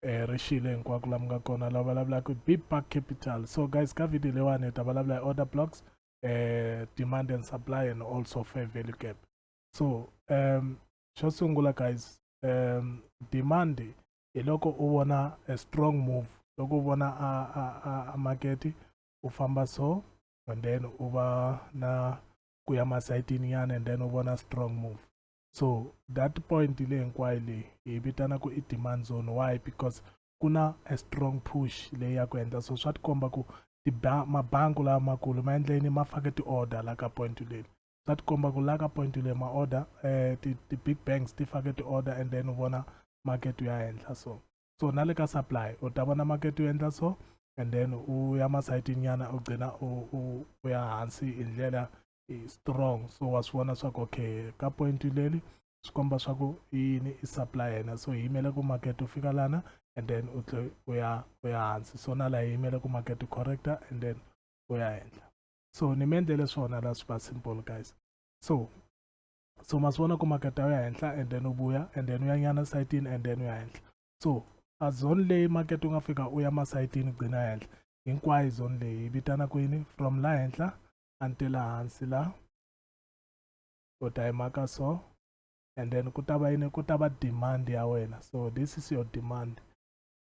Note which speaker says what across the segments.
Speaker 1: eh ri xile hinkwako laha mi nga kona la vulavulaka hi big park capital so guys ka video leyiwani hi ta vulavula hi order blocks eh demand and supply and also fair value gap so um xo sungula guys um demand hi loko u vona a strong move loko u vona a a a, a makete u famba so and then u va na ku ya masayitini yana and then u vona strong move so that point le hinkwayo leyi hi vitana ku i demand zone why because ku na a strong push leyi ya ku endla so swa tikomba ku mabanku lamakulu ma endleni ma fake ti-order la ka point leli swa tikomba ku la ka point leyi ma-order eh, ti-big banks ti fake ti-order and then u vona market ya henhla so so na le ka supply u ta vona market u endla so and then u ya masayitini nyana u gcina u ya hansi hi ndlela i strong so wa swi vona swa ku okay ka point leli swi komba swa ku i yini i supply yena so hi yimele ku market u fika lana and then u tle u ya u ya hansi so na laha hi yimele ku market u correcta and then u ya henhla so ni mi endlele swona la swi va simple guys so so ma swi vona ku market u ya henhla and then u vuya and then u ya nyana sayitini and then u ya henhla so a zone leyi market u nga fika u ya masayitini gcina henhla hinkwayo zone leyi yi vitana kwini from la henhla a ni te la hansi la u ta yi maka so and then ku ta va yini ku ta va demand ya wena so this is your demand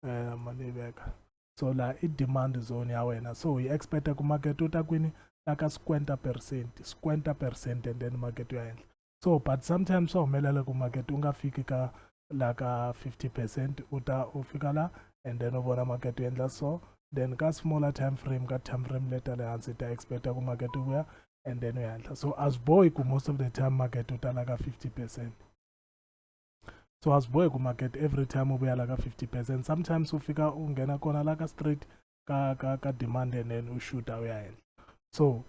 Speaker 1: um ma ni veka so la i demand zone ya wena so hi expecta ku market u ta kwini la ka squenta percent squenta percent and then market u ya henhla so but sometimes swa humelela ku market u nga fiki ka la ka 50 percent u ta u fika la and then u vona market u endla so then ka smaller time frame ka time frame leta le hansi ta expecta ku market u vuya and then u ya henhla so a swi bohi ku most of the time market u ta la ka 50 percent so a swi bohi ku market every time u vuya la ka 50 percent sometimes u fika u nghena kona la ka straight ka ka ka demand and then u shuta u ya henhla so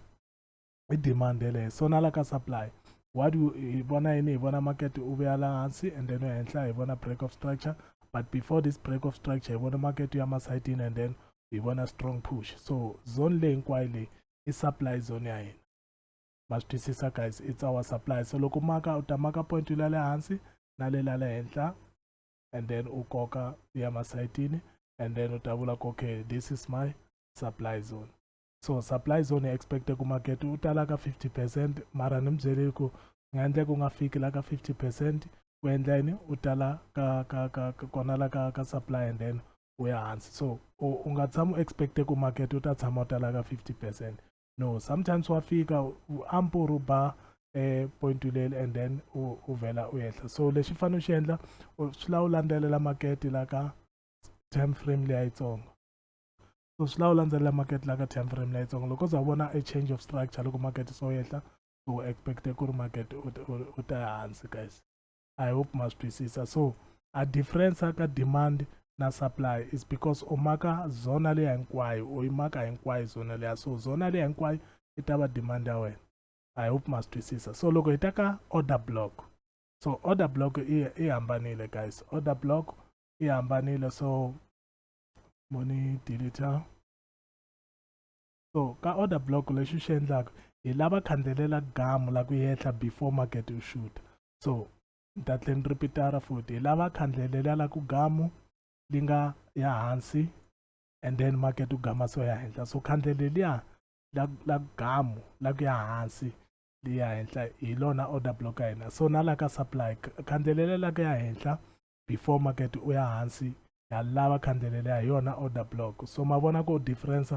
Speaker 1: i demand yeleyo so na la ka supply what you hi vona yini hi vona market u vuya la hansi and then ehenhla hi vona break of structure but before this break of structure hi vona market ya masayitini and then hi vona strong push so zone leyi hinkwayo leyi i supply zone ya hina ma swi twisisa guys it's our supply so loko maka u ta maka point la le hansi na le la le henhla and then u koka ya masayitini and then u ta vula ku okay this is my supply zone so supply zone hi expecte ku market u tala ka 50 percent mara ni mi byeleli ku nga endleka u nga fiki la ka 50 percent u endla yini u tala ka ka ka kona la ka ka supply and then u ya hansi so u nga tshama u expecte ku market u ta tshama u tala ka 50 percent no sometimes wa fika ampo ru ba eh point leli and then u vela u yehla so lexi fanele u xi endla swi la u landzelela market la ka time frame leyi yitsongo so swi lava u landzelela market la ka time frame leyitsongo loko za vona a change of structure loko market so yehla u expecte ku ri market u ta hansi guys i hope ma swi twisisa so a difference ka demand na supply is because u maka zona leya hinkwayo u yi maka hinkwayo zona leya so zona leya hinkwayo yi ta va demand ya wena i hope ma swi twisisa so loko hi ta ka order block so order block i hambanile guys order block i hambanile so mo ni deleta so ka order block lexi xi endlaka hi lava khandzelela gamu la ku yehla before market u shoot so ni ta tlhe ni ripitara futhi hi lava khandlelela la ku gamu li nga ya hansi and then market u gama so ya henhla so khandleleliya la la gamu la ku ya hansi li ya henhla hi lona order block ya hina so na la ka supply khandlelela la ku ya henhla before market u ya hansi ha lava khandlele leya hi yona order block so ma vona ku difference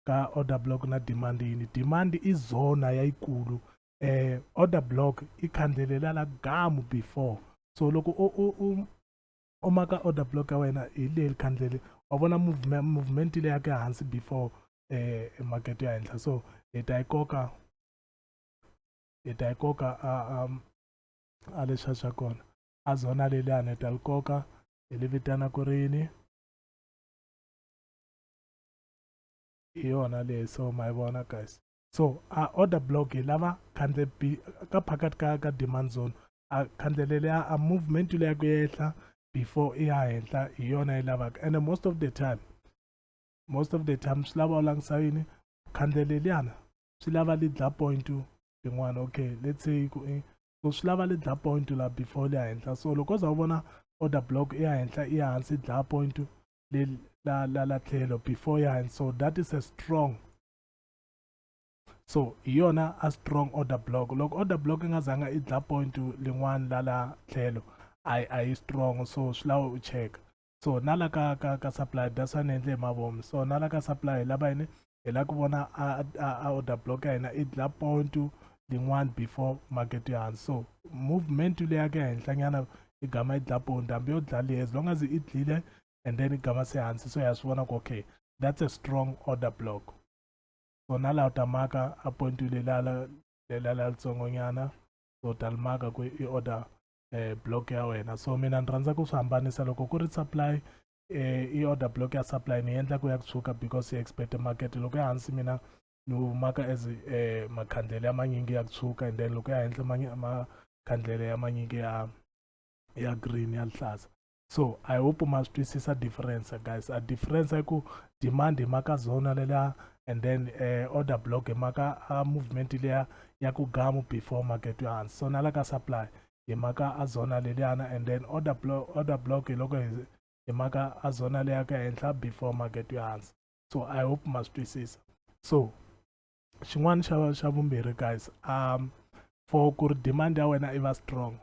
Speaker 1: ka order block na demand yini demand i zona yayikulu eh order block i khandlele la la gamu before so loko u u u u maka order block ya wena hi leyi khandlele wa vona movement movement leyi yake hansi before eh market ya henhla so hi ta yi koka hi ta yi koka a a a leswa swa kona a zona leliyani ta li koka hi li vitana ku ri yini hi yona leyi so ma yi vona guys so a order block hi lava khandle ka phakathi ka ka demand zone a khandle leliya a movement leyi ya ku yehla before i ya henhla hi yona yi lavaka and most of the time most of the time swi lava u langisa yini khandle leliyana swi lava li dla point rin'wana okay let's say ku so swi lava le dla point la before le henhla so loko za u vona order block ya henhla ya hansi dla point le la la la tlhelo before ya hansi so that is a strong so hi yona a strong order block loko order block nga zanga i dla point lin'wana la la tlhelo a yi strong so swi lava u cheka so na la ka ka ka supply that's why ni endle hi mavomi so na la ka supply hi lava yini hi lava ku vona a a order block ya hina i dla point lin'wana before market ya hansi so movement leya ke henhlanyana i gama i dla point hambi yo dla leyi as long as i dlile and then i gama se hansi so ya swi vona ku okay that's a strong order block so na laha u ta maka a point lelala lelala litsongonyana so u ta limaka ku i order eh, block ya wena so mina ni rhandza ku swi hambanisa loko ku ri supply eh, i order block ya supply ni endla ku ya ku tshuka because yi expect market loko ya hansi mina ni humaka as eh, makhandlele ya manyingi ya ku tshuka and then loko ya henhla makhandlele ya manyingi ya ya green ya lihlaza so i hope ma swi twisisa difference guys a difference i ku demand hi maka zona leliya and then uh, order block hi maka uh, movement leya ya ku gamu before market yo hansi so na la ka supply hi maka a zona leliyana and then order block, order block hi loko hi maka a zona leya ka henhla before market yo hansi so i hope ma swi twisisa so xin'wana xa xa vumbirhi guys um for ku ri demand ya wena i va strong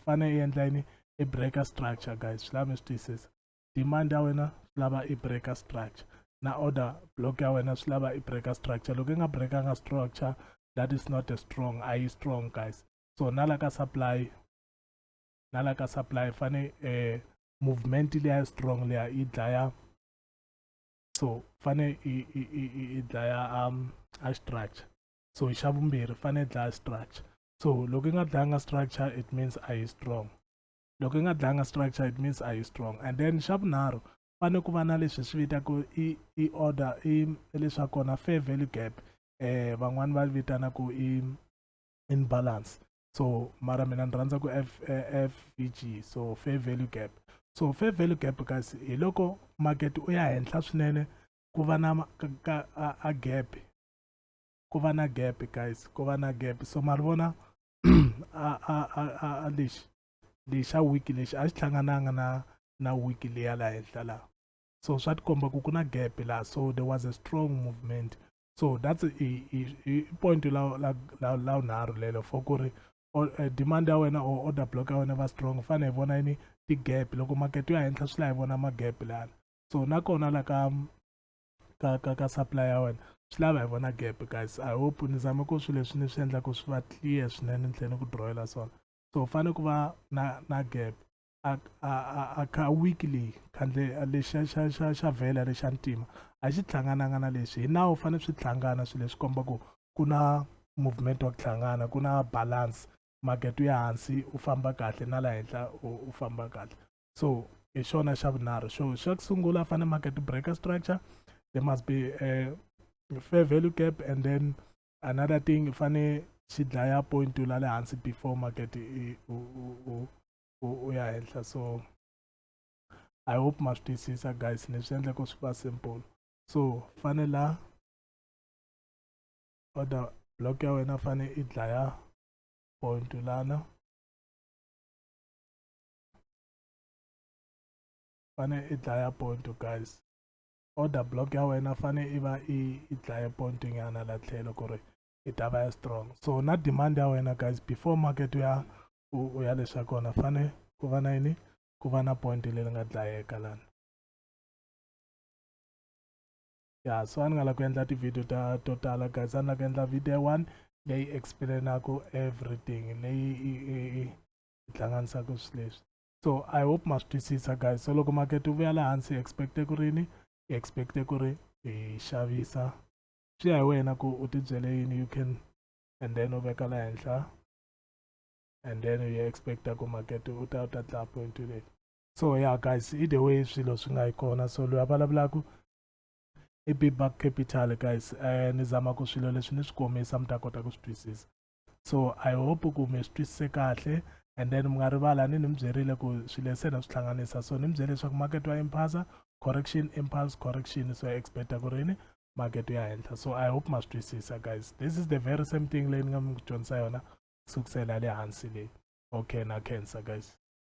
Speaker 1: fane i endla yini i breaker structure guys swi lava mi swi twisisa demand ya wena swi lava i breaker structure na order block ya wena swi lava i breaker structure loko i nga breakanga structure that is not a strong a yi strong guys so na la ka supply na la ka supply fane eh, movement leya strong leya yi dlaya so fane yi dlaya um a structure so xa vumbirhi fane dlaya structure so loko yi nga dlanga structure it means a yi strong loko yi nga dlanga structure it means a yi strong and then xa vunharhu fane ku va na leswi swi vitaka i i order i leswaku kona fair value gap eh van'wani va vitana ku i in balance so mara mina ni rhandza ku f eh, fvg so fair value gap so fair value gap kasi hi loko market u ya henhla swinene ku va na ka, ka a, a gap ku va na gap guys ku va na gap so ma ri vona a a a a lexi lexa wiki lexi a xi hlangananga na na wiki leya laha henhla laha so swa tikomba ku ku na gap laha so there was a strong movement so that's i point la la la la unharhu lelo for ku ri eh, demand ya wena or order block ya wena va strong fane hi vona yini ti-gap loko makete yo ya henhla swi la hi vona ma-gap lana so nakona la ka ka ka ka supply ya wena swi lava hi vona gap guys i hope ni zame ku swilo leswi ni swi endlaku swi va clear swinene ni tlhela ni ku drawela swona so u fanele ku va na na gap a a a a kha weekly khandle lexa xa xa xa vhela lexa ntima a xi hlangananga na leswi hi nawu fanele swi hlangana swilo leswi komba ku ku na movement wa ku hlangana ku na balance market ya hansi u famba kahle na la henhla u famba kahle so hi xona xa vunharhu xo xa ku sungula fane market breaker structure there must be a fair value gap and then another thing fane xi dlaya point to la le hansi before market u ya henhla so i hope ma swi twisisa guys ni swi endla ku swi va simple so fane la order block ya wena fane i dlaya point lana fane i dlaya ponto guys order block ya wena fane i va i i dlaye ponto nyana la tlhelo ku ri i ta va ya strong so na demand ya wena guys before market u ya u ya leswa kona fane ku va na yini ku va na point leri nga dlayeka lana ya so a ni nga la ku endla ti-video ta to tala guys a ni la ku endla video one leyi explainaku everything leyi hi hlanganisaka swi leswi so i hope ma swi twisisa guys so loko makete wu vuya laha hansi hi expecte ku rini hi expecte ku ri hi xavisa swi ya hi wena ku u tibyele yini you can and then u veka la henhla and then u ya expecta ku makete u ta u ta tlaya point leyi so ya yeah, guys either way swilo swi nga yi kona so loyi a vulavulaka i big buck capital guys um ni zama ku swilo leswi ni swi komisa mi ta kota ku swi twisisa so i hope ku mi swi twisise kahle and then mi nga rivala ni ni mi byerile ku swilo leswi na swi hlanganisa so ni mi byele leswaku market wa impasa correction impulse correction so ya expecta ku rini market ya henhla so i hope ma swi twisisa guys this is the very same thing leyi ni nga mi dyondzisa yona sukusela le hansi leyi okay na cancer guys